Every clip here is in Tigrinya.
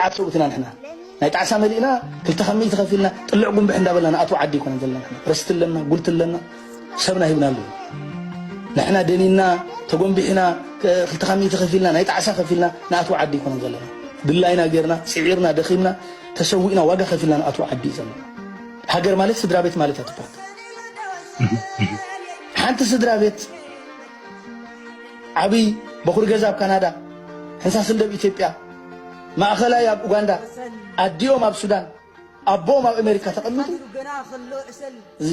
ኣብ ሰብኡት ኢና ንሕና ናይ ጣዕሳ መሊእና ክልተ ከም ሚእቲ ከፊልና ጥልዕ ጉንብሕ እንዳበልና ንኣትዎ ዓዲ ኣይኮነን ዘለና ንሕና ርስቲ ኣለና ጉልቲ ኣለና ሰብና ሂብና ኣለዉ ንሕና ደኒና ተጎንቢሕና ክልተ ካብ ሚእቲ ከፊልና ናይ ጣዕሳ ከፊልና ንኣትዎ ዓዲ ኣይኮነን ዘለና ድላይና ጌርና ፅዒርና ደኺምና ተሰዊእና ዋጋ ከፊልና ንኣትዎ ዓዲ እዩ ዘለና ሃገር ማለት ስድራ ቤት ማለት እያ ትብሃል ሓንቲ ስድራ ቤት ዓብይ በኹሪ ገዛ ኣብ ካናዳ፣ ሕንሳስን ደብ ኢትዮጵያ፣ ማእኸላይ ኣብ ኡጋንዳ፣ ኣዲኦም ኣብ ሱዳን፣ ኣቦኦም ኣብ ኣሜሪካ ተቐሚጡ እዚ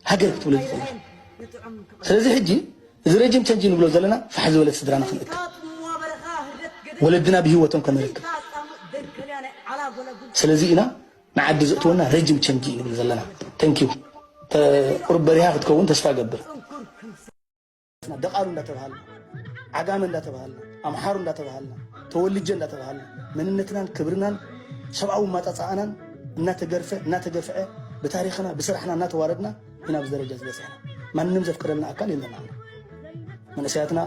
ሃገር ክትብሎ ዝኽእል ስለዚ ሕጂ እዚ ረጅም ቸንጅ ንብሎ ዘለና ፋሕ ዝበለት ስድራና ክንእክብ ወለድና ብሂወቶም ከነርክብ ስለዚ ኢና ንዓዲ ዘእትወና ረጅም ቸንጂ እዩ ንብል ዘለና Thank you ቁሩብ በሪሃ ክትከውን ተስፋ እገብር። ደቓሉ እንዳተባሃልና ዓጋመ እንዳተባሃልና ኣምሓሩ እንዳተባሃልና ተወልጀ እንዳተባሃልና መንነትናን ክብርናን ሰብኣዊ ማጣፃኣናን እናተገርፈ እናተገፍዐ ብታሪኽና ብስራሕና እናተዋረድና ኢና ኣብዚ ደረጃ እዚ በፂሕና ማንም ዘፍቅደልና ኣካል የለን ኣሎ መንእሰያትና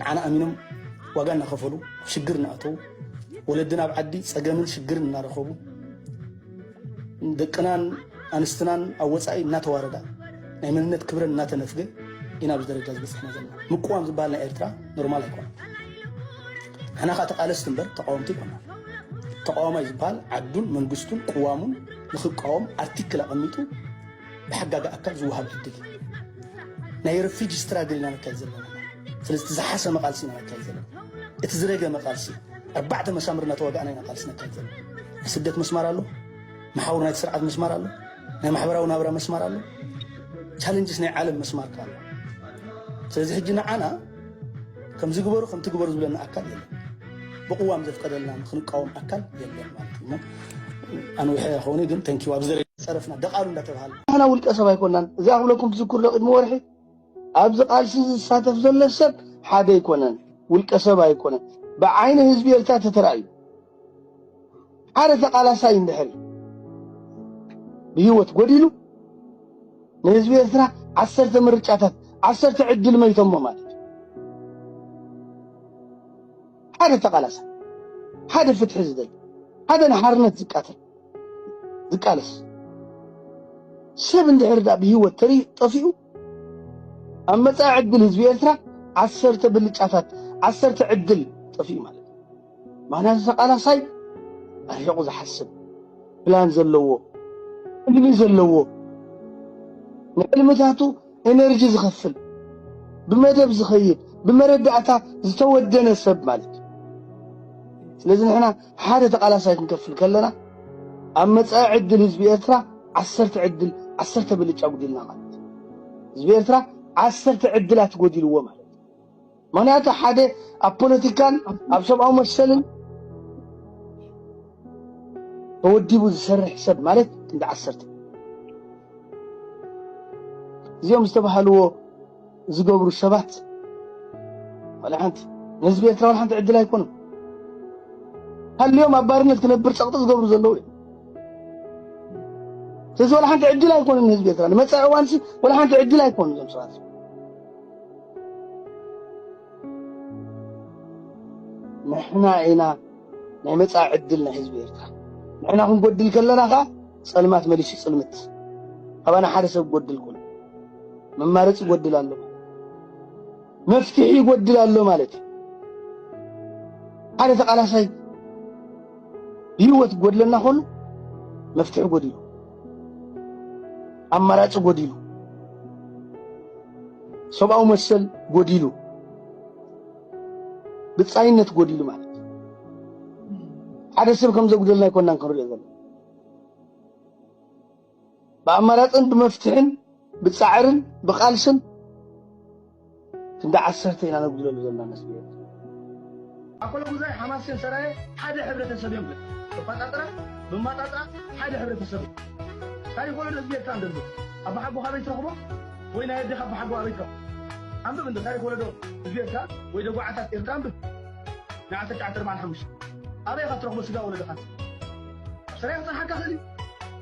ንዓና ኣሚኖም ዋጋ እናኸፈሉ ኣብ ሽግር እናኣተዉ ወለድና ኣብ ዓዲ ፀገምን ሽግርን እናረኸቡ ደቅናን ኣንስትናን ኣብ ወፃኢ እናተዋረዳ ናይ መንነት ክብረን እናተነፍገ ኢና ኣብዚ ደረጃ ዝበፅሕና ዘለና ምቅዋም ዝበሃል ናይ ኤርትራ ኖርማል ኣይኮነ ንሕና ከዓ ተቃለስቲ እምበር ተቃወምቲ ይኮና ተቃዋማይ ዝበሃል ዓዱን መንግስቱን ቅዋሙን ንክቃወም ኣርቲክል ኣቐሚጡ ብሓጋጊ ኣካል ዝወሃብ ዕድል እዩ። ናይ ረፊጂ ስትራግል ኢና ነካይድ ዘለና ስለዚ እቲ ዝሓሰመ ቃልሲ ኢና ነካይድ ዘለና እቲ ዝረገመ ቃልሲ ኣርባዕተ መሳምር እናተዋጋእና ኢና ቃልሲ ነካይድ ዘለና ናይ ስደት መስማር ኣሎ መሓውር ናይቲ ስርዓት መስማር ኣሎ ናይ ማሕበራዊ ናብራ መስማር ኣሎ ቻለንጅስ ናይ ዓለም መስማር ካሎ ስለዚ ሕጂ ንዓና ከምዚ ግበሩ ከምቲ ግበሩ ዝብለና ኣካል የለን። ብቅዋም ዘፍቀደልና ንክንቃወም ኣካል የለን ማለት እሞ ኣንዊሐ ከውኒ ግን ተንኪው ኣብዚ ፀረፍና ደቓሉ እንዳተባሃለ ንሕና ውልቀ ሰብ ኣይኮናን እዚኣ ክብለኩም ትዝክሩ ዶ ቅድሚ ወርሒ ኣብዚ ቃልሲ ዝሳተፍ ዘሎ ሰብ ሓደ ኣይኮነን ውልቀ ሰብ ኣይኮነን ብዓይኒ ህዝቢ ኤርትራ ተተራእዩ ሓደ ተቃላሳይ እንድሕር ብሂወት ጎዲሉ ንህዝቢ ኤርትራ ዓሰርተ ምርጫታት ዓሰርተ ዕድል መይቶሞ ማለት እዩ። ሓደ ተቃላሳይ ሓደ ፍትሒ ዝደሊ ሓደ ንሓርነት ዝቃተል ዝቃለስ ሰብ እንድሕር ድኣ ብሂወት ተሪኡ ጠፊኡ ኣብ መጻኢ ዕድል ህዝቢ ኤርትራ ዓሰርተ ብልጫታት ዓሰርተ ዕድል ጠፊኡ ማለት እዩ። ምክንያቱ ተቃላሳይ ኣርሒቑ ዝሓስብ ፕላን ዘለዎ ሕልሚ ዘለዎ ንሕልምታቱ ኤነርጂ ዝኸፍል ብመደብ ዝኸይድ ብመረዳእታ ዝተወደነ ሰብ ማለት እዩ። ስለዚ ንሕና ሓደ ተቃላሳይ ክንከፍል ከለና ኣብ መጻኢ ዕድል ህዝቢ ኤርትራ ዓሰርተ ዕድል ዓሰርተ ብልጫ ኣጉዲልና ማለት እዩ። ህዝቢ ኤርትራ ዓሰርተ ዕድላት ጎዲልዎ ማለት እዩ። ምክንያቱ ሓደ ኣብ ፖለቲካን ኣብ ሰብኣዊ መሰልን ተወዲቡ ዝሰርሕ ሰብ ማለት ክንዲ ዓሰርተ እዚኦም ዝተባሃልዎ ዝገብሩ ሰባት ዋላ ሓንቲ ንህዝቢ ኤርትራ ዋላ ሓንቲ ዕድል ኣይኮኑን። ሃልዮም ኣብ ባርነት ክነብር ጸቕጢ ዝገብሩ ዘለዉ እዮም። ስለዚ ዋላ ሓንቲ ዕድል ኣይኮኑን ንህዝቢ ኤርትራ ንመጻኢ እዋንሲ ዋላ ሓንቲ ዕድል ኣይኮኑ እዞም ሰባት ንሕና ኢና ናይ መጻኢ ዕድል ናይ ህዝቢ ኤርትራ ንሕና ክንጎድል ከለና ከኣ ጸልማት መሊሱ ጽልምት ኣባና ሓደ ሰብ ጎድል ኩን መማረጽ ይጎድል ኣሎ መፍትሒ ይጎድል ኣሎ ማለት እዩ። ሓደ ተቃላሳይ ብህይወት ጎድለና ኮሉ መፍትሒ ጎዲሉ ኣማራጭ ጎዲሉ ሰብኣዊ መሰል ጎዲሉ ብጻይነት ጎዲሉ ማለት ሓደ ሰብ ከም ዘጉደልና ኣይኮናን ክንሪኦ ዘለና ብኣማራጽን ብመፍትሕን ብጻዕርን ብቓልስን ክንዲ ዓሰርተ ኢና ነጉድለሉ ዘለና መስሊ ኣኮሎጉዛይ ሓማሴን ሰራየ ሓደ ሕብረተሰብ እዮም ተፋጣጥራ ብማጣጥራ ሓደ ሕብረተሰብ ታሪክ ወለዶ ህዝቢ ኤርትራ ንደሉ ኣባሓጎ ካበይ ትረኽቦ ወይ ናይ ኣዴኻ ኣባሓጎ ኣበይ ትረኽቦ ኣንብብ እንዶ ታሪክ ወለዶ ህዝቢ ኤርትራ ወይ ደጓዓታት ኤርትራ ኣንብብ ንዓሰርተ ትሽዓተ ኣርባዓን ሓሙሽተን ኣበይ ኢኻ ትረኽቦ ስጋ ወለዶኻ ሰሪያ ክጸንሓካ ክእል እዩ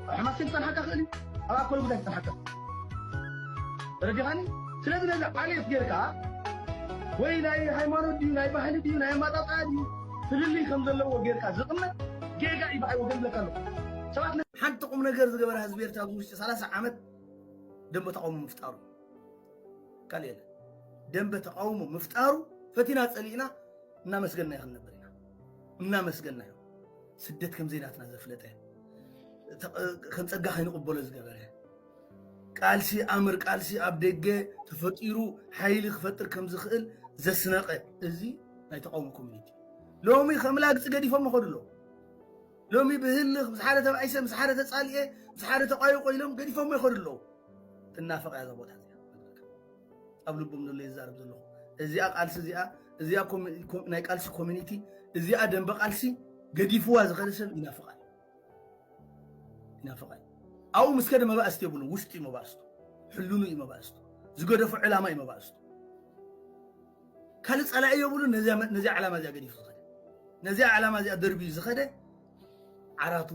ኣብ ሕማሴን ክጸንሓካ ክእል እዩ ኣብ ኣኮል ጉዳይ ክጸንሓካ ተረዲኻኒ ስለዚ ነዚ ዓሌት ጌርካ ወይ ናይ ሃይማኖት ድዩ ናይ ባህሊ ድዩ ናይ ኣማጣጣኣ ድዩ ፍልልይ ከም ዘለዎ ጌርካ ዝቕመጥ ጌጋ እዩ ብዓይ ወገን ብለካ ኣለኹ ሰባት ሓንቲ ቁም ነገር ዝገበረ ህዝቢ ኤርትራ ኣብዚ ውሽጢ 30 ዓመት ደንበ ተቃውሞ ምፍጣሩ ካልእ የለ ደንበ ተቃውሞ ምፍጣሩ ፈቲና ፀሊእና እናመስገና ይኽንነበር ኢና እናመስገና ስደት ከም ዘይናትና ዘፍለጠ ከም ፀጋ ከይንቕበሎ ዝገበረ ቃልሲ ኣምር ቃልሲ ኣብ ደገ ተፈጢሩ ሓይሊ ክፈጥር ከም ዝኽእል ዘስነቐ እዚ ናይ ተቃውሞ ኮሚኒቲ ሎሚ ከም ላግፂ ገዲፎም ይኸዱ ኣለዉ ሎሚ ብህልኽ ምስ ሓደ ተባዒሰ ምስ ሓደ ተፃሊኤ ምስ ሓደ ተቋይቆ ኢሎም ገዲፎሞ ይኸዱ ኣለዉ ትናፈቕ እያ እዛ ቦታ ኣብ ልቦም ዘሎ ይዛረብ ዘለኹ እዚኣ ቃልሲ እዚኣ እዚኣ ናይ ቃልሲ ኮሚኒቲ እዚኣ ደንበ ቃልሲ ገዲፍዋ ዝኸደ ሰብ ይናፍቓል ይናፍቓል ኣብኡ ምስ ከደ መባእስቲ የብሉ ውሽጡ እዩ መባእስቱ ሕልኑ እዩ መባእስቱ ዝገደፎ ዕላማ እዩ መባእስቱ ካልእ ጸላኢ የብሉ ነዚያ ዕላማ እዚኣ ገዲፉ ዝኸደ ነዚያ ዕላማ እዚኣ ደርብዩ ዝኸደ ዓራቱ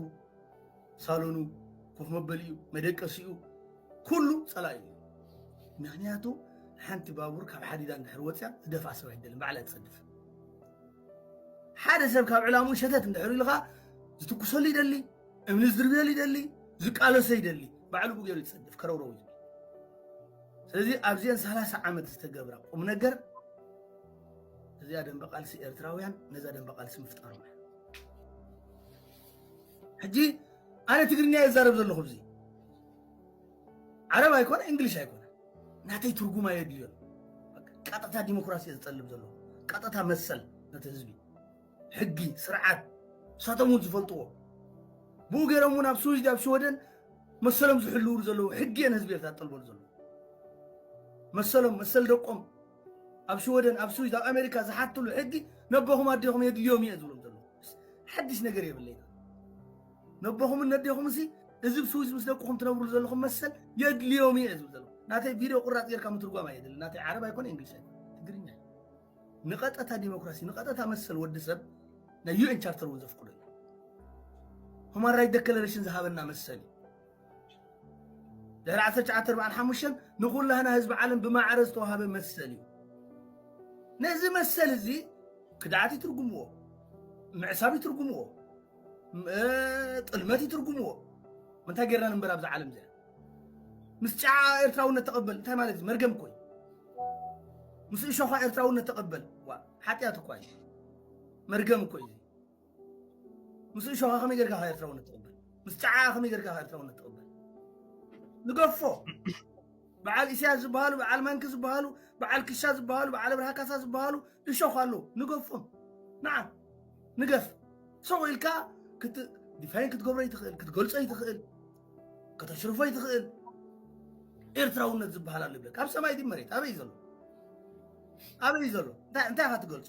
ሳሎኑ፣ ኮፍ መበሊኡ፣ መደቀሲኡ ኩሉ ፀላኢ እዩ። ምክንያቱ ሓንቲ ባቡር ካብ ሓዲዳ እንድሕር ወፅያ ዝደፍኣ ሰብ ኣይደልን ባዕላ ትፀድፍ። ሓደ ሰብ ካብ ዕላሙ ሸተት እንድሕር ኢልኻ ዝትኩሰሉ ይደሊ፣ እምኒ ዝድርብየሉ ይደሊ፣ ዝቃለሶ ይደሊ፣ ባዕሉ ብገሩ ይፀድፍ ከረውረው እዩ። ስለዚ ኣብዚአን ሰላሳ ዓመት ዝተገብራ ቁም ነገር እዚኣ ደንበ ቃልሲ ኤርትራውያን ነዛ ደንበ ቃልሲ ምፍጣሮም እዩ። ሕጂ ኣነ ትግርኛ እየ ዝዛረብ ዘለኹ እዚ ዓረብ ኣይኮነ እንግሊሽ ኣይኮነ ናተይ ትርጉም ኣየድልዮን ቀጥታ ዲሞክራሲ እየ ዝጠልብ ዘለኹ ቀጥታ መሰል ነቲ ህዝቢ ሕጊ ስርዓት ንሳቶም እውን ዝፈልጥዎ ብኡ ገይሮም እውን ኣብ ስዊዝ ኣብ ሽወደን መሰሎም ዝሕልውሉ ዘለዉ ሕጊ እየን ህዝቢ ኤርትራ ዝጠልበሉ ዘለዉ መሰሎም መሰል ደቆም ኣብ ሽወደን ኣብ ስዊዝ ኣብ ኣሜሪካ ዝሓትሉ ሕጊ ነቦኹም ኣዴኹም የድልዮም እየ ዝብሎም ዘሎ ሓድሽ ነገር የብለይና ነቦኹምን ነዴኹም ሲ እዚ ብ ስዊዝ ምስ ደቅኹም ትነብሩ ዘለኹም መሰል የድልዮም እየ ዝብል ዘሎ ናተይ ቪድዮ ቁራፅ ጌርካ ምትርጓም ኣየድልን ናተይ ዓረብ ኣይኮነ እንግሊሽ ትግርኛ ንቐጠታ ዲሞክራሲ ንቐጠታ መሰል ወዲ ሰብ ናይ ዩኤን ቻርተር እውን ዘፍቅዶ እዩ ሁማን ራይት ደክለሬሽን ዝሃበና መሰል እዩ ድሕሪ ዓሰርተ ትሽዓተ ኣርብዓን ሓሙሽተን ንኹላህና ህዝቢ ዓለም ብማዕረ ዝተዋሃበ መሰል እዩ ነዚ መሰል እዚ ክድዓት ይትርጉምዎ ምዕሳብ ይትርጉምዎ ጥልመት ይትርጉምዎ እንታይ ጌርና ንበር ኣብዚ ዓለም እዚኣ ምስ ጫዓ ኤርትራውነት ተቐበል እንታይ ማለት እዩ መርገም ኮይ ምስ እሾኻ ኤርትራውነት ተቐበል ሓጢኣት እኳ እዩ መርገም እኮ እዩ ምስ እሾኻ ከመይ ጌርካ ካብ ኤርትራውነት ትቕበል ምስ ጸዓኣ ከመይ ጌርካ ካብ ኤርትራውነት ትቕበል ንገፎ በዓል ኢሳያስ ዝበሃሉ በዓል መንኪ ዝበሃሉ በዓል ክሻ ዝበሃሉ በዓል ብርሃ ካሳ ዝበሃሉ እሾኽ ኣለዉ ንገፎም ንዓ ንገፍ ሰው ኢልካ ዲፋይን ክትገብሮ ይትኽእል ክትገልጾ ይትኽእል ከተሽርፎ ይትኽእል ኤርትራውነት ዝበሃል ኣሎ ይብለካ ኣብ ሰማይ ድዩ መሬት ኣበይ ዘሎ ኣበይ ዘሎ እንታይ ኢኻ ትገልጾ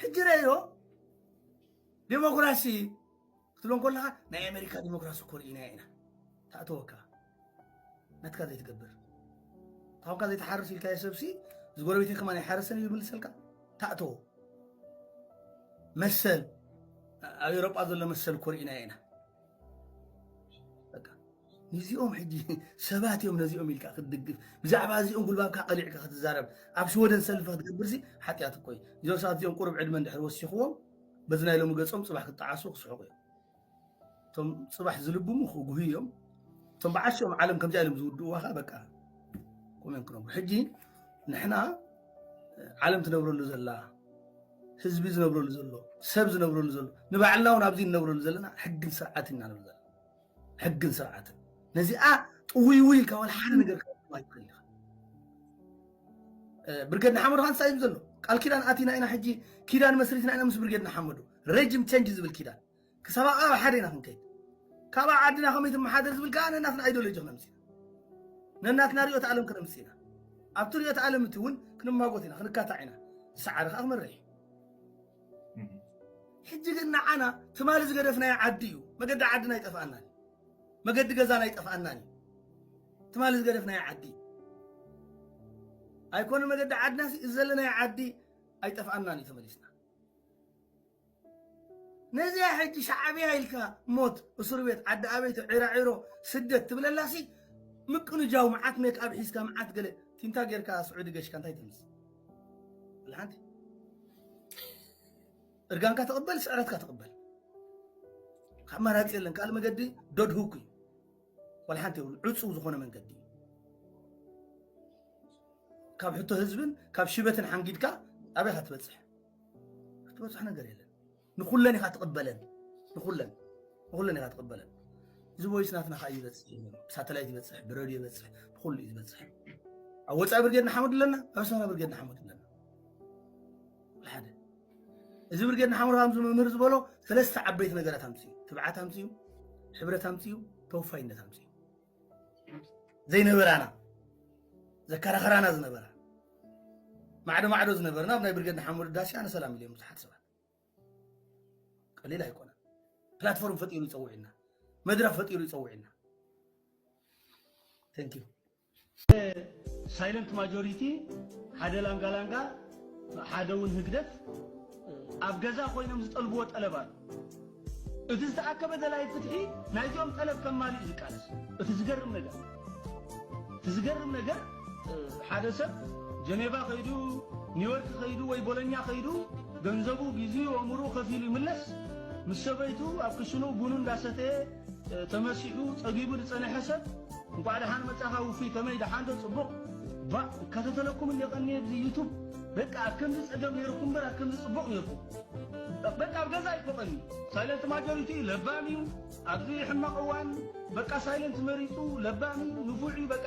ሕጂ ረዮ ዴሞክራሲ ክትብሎ ከለኻ ናይ ኣሜሪካ ዴሞክራሲ እኮ ርኢና ኢና ተኣተወካ ናትካ ዘይትገብር ታብካ ዘይትሓርስ ኢልካዮ ሰብሲ ዝጎረቤተይ ከማን ኣይሓርስን እዩ ዝምልሰልካ ተኣተዎ መሰል ኣብ ኤሮጳ ዘሎ መሰል እኮ ርኢና ኢና ንዚኦም ሕጂ ሰባት እዮም ነዚኦም ኢልካ ክትድግፍ ብዛዕባ እዚኦም ጉልባብካ ቀሊዕካ ክትዛረብ ኣብ ሽወደን ሰልፊ ክትገብርሲ ሓጢኣት እኮ እዩ እዞም ሰባት እዚኦም ቁሩብ ዕድመ እንድሕር ወሲኽዎም በዚ ናይ ሎሚ ገጾም ጽባሕ ክጠዓሱ ክስሕቑ እዮም እቶም ጽባሕ ዝልብሙ ክጉህዩ እዮም እቶም ብዓሽኦም ዓለም ከምዚኣ ኢሎም ዝውድእዋ ከዓ በቃ ኮመን ክነብሩ ሕጂ ንሕና ዓለም ትነብረሉ ዘላ ህዝቢ ዝነብረሉ ዘሎ ሰብ ዝነብረሉ ዘሎ ንባዕልና እውን ኣብዚ ንነብረሉ ዘለና ሕግን ስርዓት ኢና ንብል ዘለና ሕግን ስርዓትን ነዚኣ ጥውይውይ ኢልካ ዋላ ሓደ ነገር ክትገብር ኣይትኽእል ኢኻ። ብርጌድ ንሓመዱ ካን እንታይ እዩ ዘሎ ቃል ኪዳን ኣቲና ኢና ሕጂ ኪዳን መስሪትና ኢና ምስ ብርጌድ ንሓመዱ ረጅም ቸንጅ ዝብል ኪዳን ክሳብ ኣብኣ ሓደ ኢና ክንከይድ ካብኣ ዓድና ከመይ ትመሓደር ዝብል ከዓ ነናትና ኣይዲዮሎጂ ክነምፅ ኢና ነናትና ሪኦት ዓለም ክነምፅ ኢና ኣብቲ ሪኦት ዓለም እቲ እውን ክንማጎት ኢና ክንካታዕ ኢና ዝሰዓረ ከዓ ክመርሕ እዩ ሕጂ ግን ንዓና ትማሊ ዝገደፍናዮ ዓዲ እዩ መገዲ ዓድና ይጠፍኣና መገዲ ገዛና ይጠፍኣና ትማሊ ዝገደፍናዮ ዓዲ ኣይኮነ መገዲ ዓድና እዚ ዘለናዮ ዓዲ ኣይጠፍኣናን እዩ ተመሊስና ነዚያ ሕጂ ሻዕብያ ኢልካ ሞት እስር ቤት ዓዲ ኣበይቶ ዒራዒሮ ስደት ትብለላሲ ምቅንጃው መዓት ሜክኣብ ሒዝካ መዓት ገለ ቲንታ ጌርካ ስዑዲ ገሽካ እንታይ ትምስ ብልሓንቲ እርጋንካ ተቐበል፣ ስዕረትካ ተቐበል። ካብ መራፂ የለን ካልእ መገዲ ደድህኩ እዩ ዋላ ሓንቲ የብሉ ዕፁው ዝኾነ መንገዲ እዩ ካብ ሕቶ ህዝብን ካብ ሽበትን ሓንጊድካ ኣበይ ክትበፅሕ ክትበፅሕ ነገር የለን ንኹለን ኢኻ ትቕበለን ንኹለን ንኹለን ኢኻ ትቕበለን እዚ ወይስ ናትና ከዓ ይበፅሕ እዩ ነይሩ ብሳተላይት ይበፅሕ ብረድዮ ይበፅሕ ብኩሉ እዩ ዝበፅሕ ኣብ ወፃኢ ብርጌድ ንሓመዱ ኣለና ኣብ ኣስመራ ብርጌድ ንሓመዱ ኣለና ሓደ እዚ ብርጌድ ንሓመዱ ከምዚ መምህር ዝበሎ ሰለስተ ዓበይቲ ነገራት ኣምፅኡ ትብዓት ኣምፅኡ ሕብረት ኣምፅኡ ተወፋይነት ኣምፅኡ ዘይነበራና ዘከራኸራና ዝነበራ ማዕዶ ማዕዶ ዝነበርና ኣብ ናይ ብርጌድ ንሓመዱ ዳሲ ኣነ ሰላም ኢልዮም ብዙሓት ሰባት ቀሊል ኣይኮነን። ፕላትፎርም ፈጢሩ ይፀውዕና፣ መድረኽ ፈጢሩ ይፀውዕና። ቴንክ ዩ ሳይለንት ማጆሪቲ ሓደ ላንጋላንጋ ሓደ እውን ህግደፍ ኣብ ገዛ ኮይኖም ዝጠልብዎ ጠለብ ኣሎ እቲ ዝተኣከበ ደላይ ፍትሒ ናይዚኦም ጠለብ ከማልእ እዩ ዝቃለስ። እቲ ዝገርም ነገር እቲ ዝገርም ነገር ሓደ ሰብ ጀኔቫ ከይዱ ኒውዮርክ ከይዱ ወይ ቦሎኛ ከይዱ ገንዘቡ ጊዜኡ ኣእምርኡ ከፊሉ ይምለስ ምስ ሰበይቱ ኣብ ክሽኑ ቡኑ እንዳሰተየ ተመሲሑ ጸጊቡ ዝጸነሐ ሰብ እንኳዕ ደሓን መጻኻ ውፉይ ከመይ ደሓን ዶ ጽቡቕ ቫእ እከታተለኩም እንደ ቀንየ ብዚ ዩቱብ በቃ ኣብ ከምዚ ጸገም ነይርኩም እምበር ኣብ ከምዚ ጽቡቕ ነይርኩም በቃ ኣብ ገዛ ኣይፎቕን እዩ ሳይለንት ማጆሪቲ እዩ ለባም እዩ ኣብዚ ሕማቕ እዋን በቃ ሳይለንት መሪፁ ለባም እዩ ንፉዕ እዩ በቃ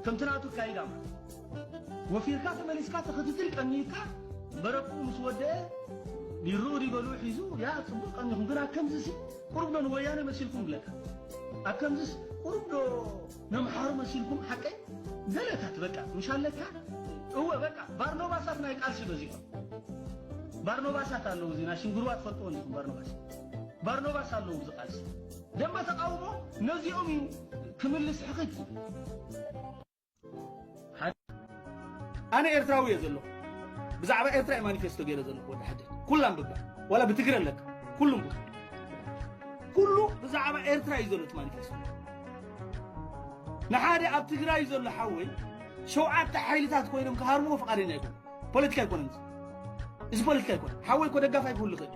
ከምቲ ናቱ ኣካይዳ ማለት ወፊርካ ተመሊስካ ተኽትትል ቀኒዩካ መረብኡ ምስ ወደአ ቢርኡ ዲበልኡ ሒዙ ያ ፅቡቕ ቀኒኹም ግን ኣብ ከምዚሲ ቁሩብ ዶ ንወያነ መሲልኩም ብለካ ኣብ ከምዚስ ቁሩብ ዶ ነምሓሩ መሲልኩም ሓቀይ ዘለታት በቃ ምሻለካ እወ በቃ ባርኖባሳት ናይ ቃልሲ በዚሖም ባርኖባሳት ኣለዉ እዚ ናሽንግርዋ ትፈልጥዎ እንዲኹም ባርኖባስ ባርኖባስ ኣለዉ እዚ ቃልሲ ደንበ ተቃውሞ ነዚኦም እዩ ክምልስ ሕኽት ኣነ ኤርትራዊ እየ ዘለኹ ብዛዕባ ኤርትራ እየ ማኒፌስቶ ገይረ ዘለኹ ወዲ ሓደት ኩላ ኣንብባ ዋላ ብትግረ ኣለካ ኩሉ እንብባ ኩሉ ብዛዕባ ኤርትራ እዩ ዘሎ እቲ ማኒፌስቶ ንሓደ ኣብ ትግራይ ዘሎ ሓወይ ሸውዓተ ሓይልታት ኮይኖም ክሃርምዎ ፍቓደኛ ኣይኮነ ፖለቲካ ኣይኮነን እዚ ፖለቲካ ኣይኮነ ሓወይ እኮ ደጋፍ ኣይክህሉ ይኽእል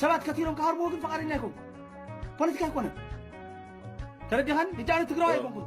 ሰባት ከቲሮም ክሃርምዎ ግን ፍቓደኛ ኣይኮንኩ ፖለቲካ ኣይኮነን ተረዲኻኒ እጃነ ትግራዊ ኣይኮንኩን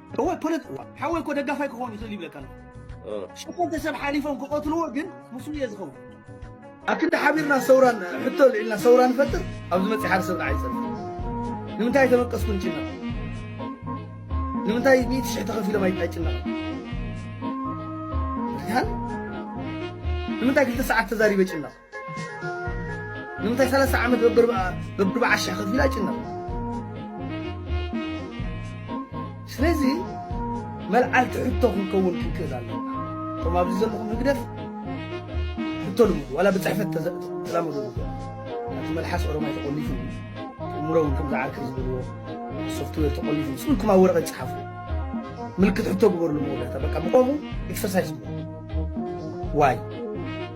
እወ ፖለቲ እዋ ሓወይ እኮ ደጋፋይ ክኸውን ይኽእል ይብለካ ኣለኹ ሸፈንተ ሰብ ሓሊፎም ክቐትልዎ ግን ምስኡ እየ ዝኸውን ኣብ ክንዲ ሓቢርና ሰውራ ሕቶ ልዒልና ሰውራ ንፈጥር ኣብ ዝመፅእ ሓደ ሰብ ንዓይ ፀር ንምንታይ ተመቀስኩ ንጭነቕ ንምንታይ ሚእቲ ሽሕ ተኸፊሎም ኣይጭነቕ ንምንታይ ክልተ ሰዓት ተዛሪበ ጭነቕ ንምንታይ ሰላሳ ዓመት በብርብዓ ሽሕ ከፊላ ይጭነቕ ስለዚ መልዓልቲ ሕቶ ክንከውን ክንክእል ኣለና እቶም ኣብዚ ዘለኹም ህግደፍ ሕቶ ልምዱ ዋላ ብፅሕፈት ተላምዱ እቲ መልሓስ ኦሮማይ ተቆሊፉ እምሮ እውን ከምዚ ዓርኪ ዝበልዎ ሶፍትዌር ተቆሊፉ ስእልኩም ኣብ ወረቐት ይፅሓፉ ምልክት ሕቶ ግበርሉ መወዳእታ በቃ ብቆሙ ኤክሰርሳይዝ ግበሩ ዋይ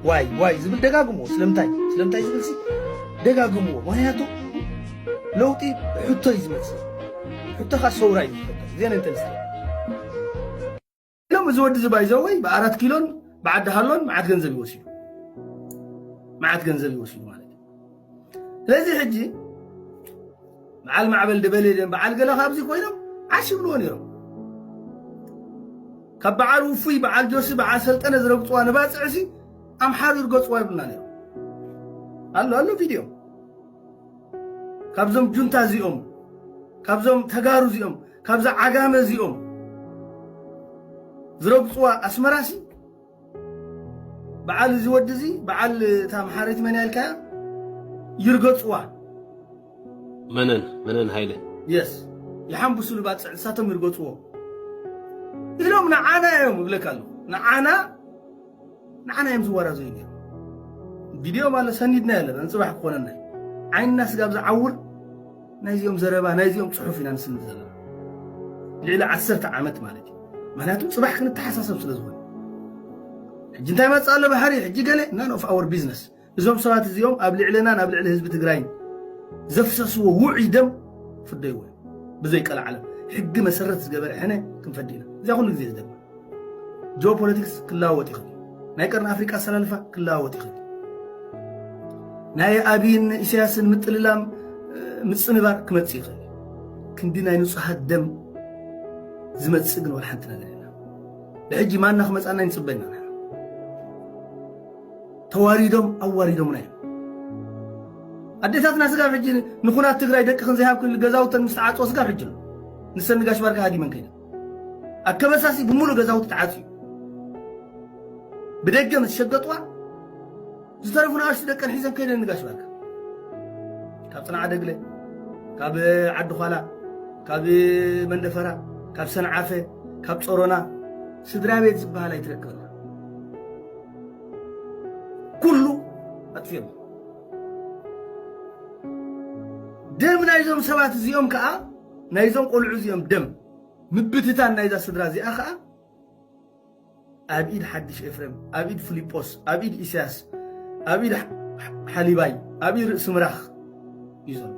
ዋይ ዋይ ዝብል ደጋግምዎ ስለምንታይ ስለምንታይ ዝብል ሲ ደጋግምዎ ምክንያቱ ለውጢ ሕቶ እዩ ዝመፅእ ሕቶ ከዓ ሰውራ እዩ ዝፈጠር ዜና እንተልስ ኢሎም እዚ ወዲ እዚ ባይዘወይ ብኣራት ኪሎን ብዓዲ ሃሎን መዓት ገንዘብ ይወሲዱ መዓት ገንዘብ ይወሲዱ ማለት እዩ ስለዚ ሕጂ በዓል ማዕበል ደበሌ ድም በዓል ገለ ካብዚ ኮይኖም ዓሽ ይብልዎ ነይሮም ካብ በዓል ውፉይ በዓል ጆሲ በዓል ሰልጠነ ዝረግፅዋ ንባፅዕሲ ኣምሓሩ ይርገፅዋ ይብሉና ነይሮም ኣሎ ኣሎ ቪድዮ ካብዞም ጁንታ እዚኦም ካብዞም ተጋሩ እዚኦም ካብዛ ዓጋመ እዚኦም ዝረግፅዋ ኣስመራሲ በዓል እዚ ወዲ እዚ በዓል እታ ኣምሓሪት መን ያልካያ ይርገፅዋ መነን መነን ሃይለ የስ ይሓንብሱ ልባፅዕ ንሳቶም ይርገፅዎ ኢሎም ንዓና እዮም እብለካ ኣለኹ ንዓና ንዓና እዮም ዝወራዘዩ ነይሩ ቪድዮ ማለት ሰኒድና ኣለና ንፅባሕ ክኾነና ዓይንና ስጋብ ዝዓውር ናይዚኦም ዘረባ ናይዚኦም ጽሑፍ ኢና ንስምዕ ዘለና ልዕሊ ዓሰርተ ዓመት ማለት እዩ ምክንያቱ ጽባሕ ክንተሓሳሰብ ስለ ዝኾነ ሕጂ እንታይ መጽእ ኣሎ ባሕሪ ሕጂ ገለ ናን ኦፍ ኣወር ቢዝነስ እዞም ሰባት እዚኦም ኣብ ልዕልናን ኣብ ልዕሊ ህዝቢ ትግራይን ዘፍሰስዎ ውዑይ ደም ፍደይዎ ብዘይ ቀልዓለም ሕጊ መሰረት ዝገበረ ሕነ ክንፈዲ ኢና እዚያ ኩሉ ግዜ ዝደግማ ጂኦ ፖለቲክስ ክለዋወጥ ይኽእል እዩ። ናይ ቀርኒ ኣፍሪቃ ኣሰላልፋ ክለዋወጥ ይኽእል እዩ። ናይ ኣብይን ኢሳያስን ምጥልላም ምጽንባር ክመጽእ ይኽእል እዩ። ክንዲ ናይ ንጹሃት ደም ዝመጽእ ግን ወላ ሓንቲ ነገር የለን። ብሕጂ ማና ክመጽኣና ይንጽበ ኢና ንሕና። ተዋሪዶም ኣዋሪዶምና እዮም። ኣዴታትና ስጋብ ሕጂ ንኩናት ትግራይ ደቅኽን ዘይሃብክን ገዛውተን ምስ ተዓጽወ ስጋብ ሕጂ ኣሎ ንሰን ንጋሽ ባርካ ሃዲመን ከይደን ኣብ ከበሳሲ ብምሉእ ገዛውቲ ተዓጽዩ ብደገ ምስ ሸገጥዋ ዝተረፉ ንኣሽቱ ደቀን ሒዘን ከይደን ንጋሽ ባርካ ካብ ጽንዓ ደግለ ካብ ዓዲ ኋላ ካብ መንደፈራ ካብ ሰንዓፈ ካብ ጾሮና ስድራ ቤት ዝበሃል ኣይትረክብን ኩሉ ኣጥፍዮም ደም ናይዞም ሰባት እዚኦም ከዓ ናይዞም ቆልዑ እዚኦም ደም ምብትታን ናይዛ ስድራ እዚኣ ከዓ ኣብ ኢድ ሓድሽ ኤፍሬም ኣብ ኢድ ፍሊጶስ ኣብ ኢድ ኢሳያስ ኣብ ኢድ ሓሊባይ ኣብ ኢድ ርእሲ ምራኽ እዩ ዘሎ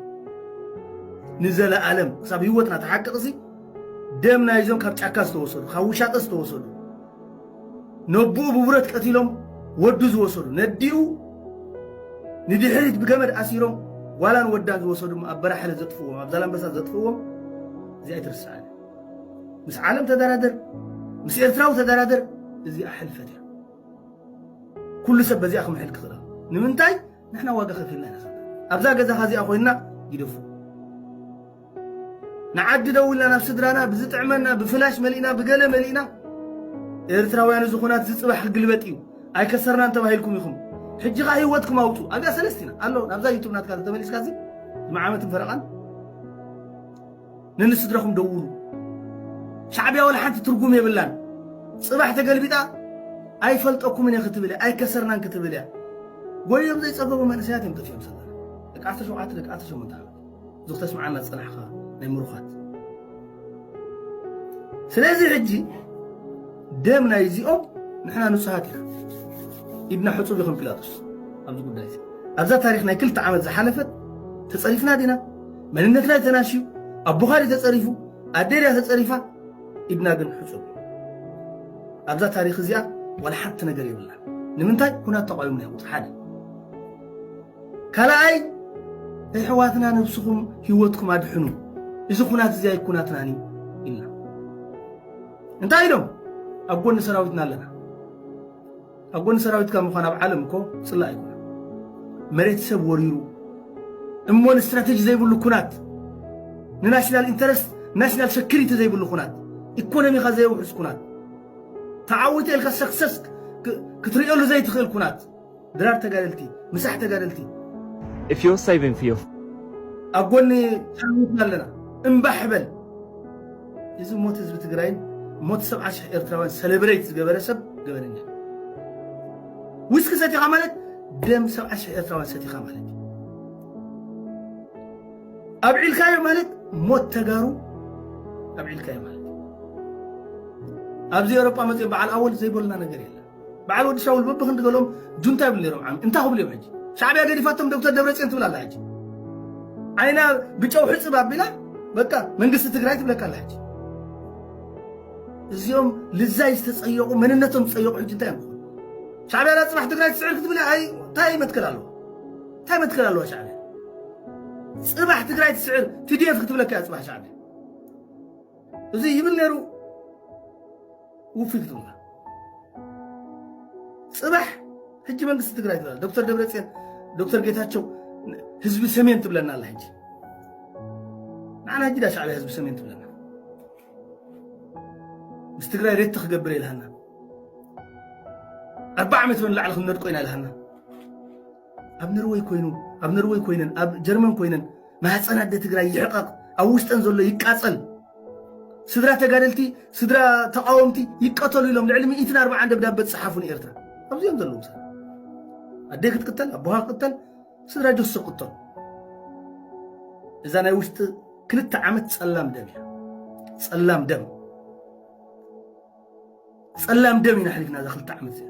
ንዘለኣለም ክሳብ ህይወትና ተሓቅቕሲ ደም ናይዞም ካብ ጫካ ዝተወሰዱ ካብ ውሻጠ ዝተወሰዱ ነቦኡ ብብረት ቀቲሎም ወዱ ዝወሰዱ፣ ነዲኡ ንድሕሪት ብገመድ ኣሲሮም ጓላን ወዳን ዝወሰዱ እሞ ኣብ በራሕለ ዘጥፍዎም፣ ኣብ ዛላምበሳ ዘጥፍዎም እዚ ኣይትርስዓን። ምስ ዓለም ተደራደር፣ ምስ ኤርትራዊ ተደራደር፣ እዚኣ ሕልፈት እያ። ኩሉ ሰብ በዚኣ ክምሕል ክኽእል ኣለዎ። ንምንታይ ንሕና ዋጋ ከፊልና ኢና ዘለና። ኣብዛ ገዛኻ እዚኣ ኮይንና ይደፉ። ንዓዲ ደው ኢልና ናብ ስድራና ብዝጥዕመና ብፍላሽ መሊእና ብገለ መሊእና ኤርትራውያን እዚ ኩናት እዚ ጽባሕ ክግልበጥ እዩ ኣይከሰርናን ተባሂልኩም ኢኹም ሕጂ ከኣ ህይወትኩም ኣውጹ ኣብያ ሰለስቲና ኣሎ ናብዛ ዩቱብ ናትካ ተመሊስካ እዚ መዓመትን ፈረቓን ንንስድራኹም ደውሉ ሻዕብያ ወላ ሓንቲ ትርጉም የብላን ጽባሕ ተገልቢጣ ኣይፈልጠኩምን እየ ክትብል እያ ኣይከሰርናን ክትብል እያ ጎዮም ዘይጸገቡ መንእሰያት እዮም ጠፊኦም ሰለና ደቂ ዓሰርተ ሸውዓተ ደቂ ዓሰርተ ሸሞንተ ዓመት እዚ ክተስምዓና ዝጸናሕካ ናይ ምሩኻት ስለዚ ሕጂ ደም ናይ እዚኦም ንሕና ንጹሃት ኢና ኢድና ሕጹብ ይኹን ጲላጦስ ኣብዚ ጉዳይ እዚ ኣብዛ ታሪክ ናይ ክልተ ዓመት ዝሓለፈት ተጸሪፍና ዲና መንነትና ተናሽዩ ኣቦኻ ድዩ ተጸሪፉ ኣደ ድያ ተጸሪፋ ኢድና ግን ሕጹብ ኣብዛ ታሪክ እዚኣ ዋላ ሓንቲ ነገር የብላ ንምንታይ ኩናት ተቋዊምና ቁፅሪ ሓደ ካልኣይ እሕዋትና ነብስኹም ሂወትኩም ኣድሕኑ እዚ ኩናት እዚ ኣይኩናትናን እዩ ኢልና እንታይ ኢሎም ኣብ ጎኒ ሰራዊትና ኣለና ኣብ ጎኒ ሰራዊትካ ምዃን ኣብ ዓለም እኮ ፅላእ ኣይኮነ መሬት ሰብ ወሪሩ እሞ ንስትራቴጂ ዘይብሉ ኩናት ንናሽናል ኢንተረስት ናሽናል ሰኪሪቲ ዘይብሉ ኩናት ኢኮኖሚኻ ዘየውሕስ ኩናት ተዓዊተ ኢልካ ሰክሰስ ክትርእየሉ ዘይትኽእል ኩናት ድራር ተጋደልቲ ምሳሕ ተጋደልቲ። እፍዮ ሳይቨን ፍዮ። ኣብ ጎኒ ሰራዊትና ኣለና እምባሕ በል። እዚ ሞት ህዝቢ ትግራይን ሞት ሰብዓ ሽሕ ኤርትራውያን ሰለብሬት ዝገበረ ሰብ ገበነኛ ዊስኪ ሰቲኻ ማለት ደም ሰብዓ ሽሕ ኤርትራውያን ሰቲኻ ማለት እዩ ኣብዒልካዮ ማለት ሞት ተጋሩ ኣብዒልካዮ ማለት ኣብዚ ኤውሮጳ መፅኦም በዓል ኣወል ዘይበሉና ነገር የለን በዓል ወዲ ሻውል በብክንዲ ገሎም ጁንታ ይብሉ ነይሮም ዓሚ እንታይ ክብሉ እዮም ሕጂ ሻዕብያ ገዲፋቶም ዶክተር ደብረፅዮን ትብል ኣላ ሕጂ ዓይና ብጨው ሕፅብ ኣቢላ በቃ መንግስቲ ትግራይ ትብለካ ኣላ ሕጂ እዚኦም ልዛይ ዝተፀየቑ መንነቶም ዝፀየቑ ሕጂ እንታይ እዮም ሻዕብያ ዳ ፅባሕ ትግራይ ትስዕር ክትብል ኣይ እንታይ መትከል ኣለዎ እንታይ መትከል ኣለዋ ሻዕብያ ፅባሕ ትግራይ ትስዕር ቲዲኤፍ ክትብለካ እያ ፅባሕ ሻዕብያ እዚ ይብል ነይሩ ውፊት ዶና ፅባሕ ሕጂ መንግስቲ ትግራይ ትብላ ዶክተር ደብረፅዮን ዶክተር ጌታቸው ህዝቢ ሰሜን ትብለና ኣላ ሕጂ ንዓና ሕጂ ዳ ሻዕብያ ህዝቢ ሰሜን ትብለና ምስ ትግራይ ሬት ክገብር የልሃና ኣርባዓ ዓመት ንላዕሊ ክንነድቆ ኢና ኢልሃና ኣብ ነርወይ ኮይኑ ኣብ ነርወይ ኮይነን ኣብ ጀርመን ኮይነን ማህፀን ኣደ ትግራይ ይሕቐቕ ኣብ ውሽጠን ዘሎ ይቃፀል ስድራ ተጋደልቲ ስድራ ተቃወምቲ ይቀተሉ ኢሎም ልዕሊ ሚእትን ኣርባዓን ደብዳበ ዝፀሓፉ ንኤርትራ ኣብዚኦም ዘለዉ ሰብ ኣደይ ክትቅተል ኣቦኻ ክትቅተል ስድራ ጆሶ ክትቅተሉ እዛ ናይ ውሽጢ ክልተ ዓመት ፀላም ደም እያ ፀላም ደም ፀላም ደም ኢና ሓሊፍና እዛ ክልተ ዓመት እዚኣ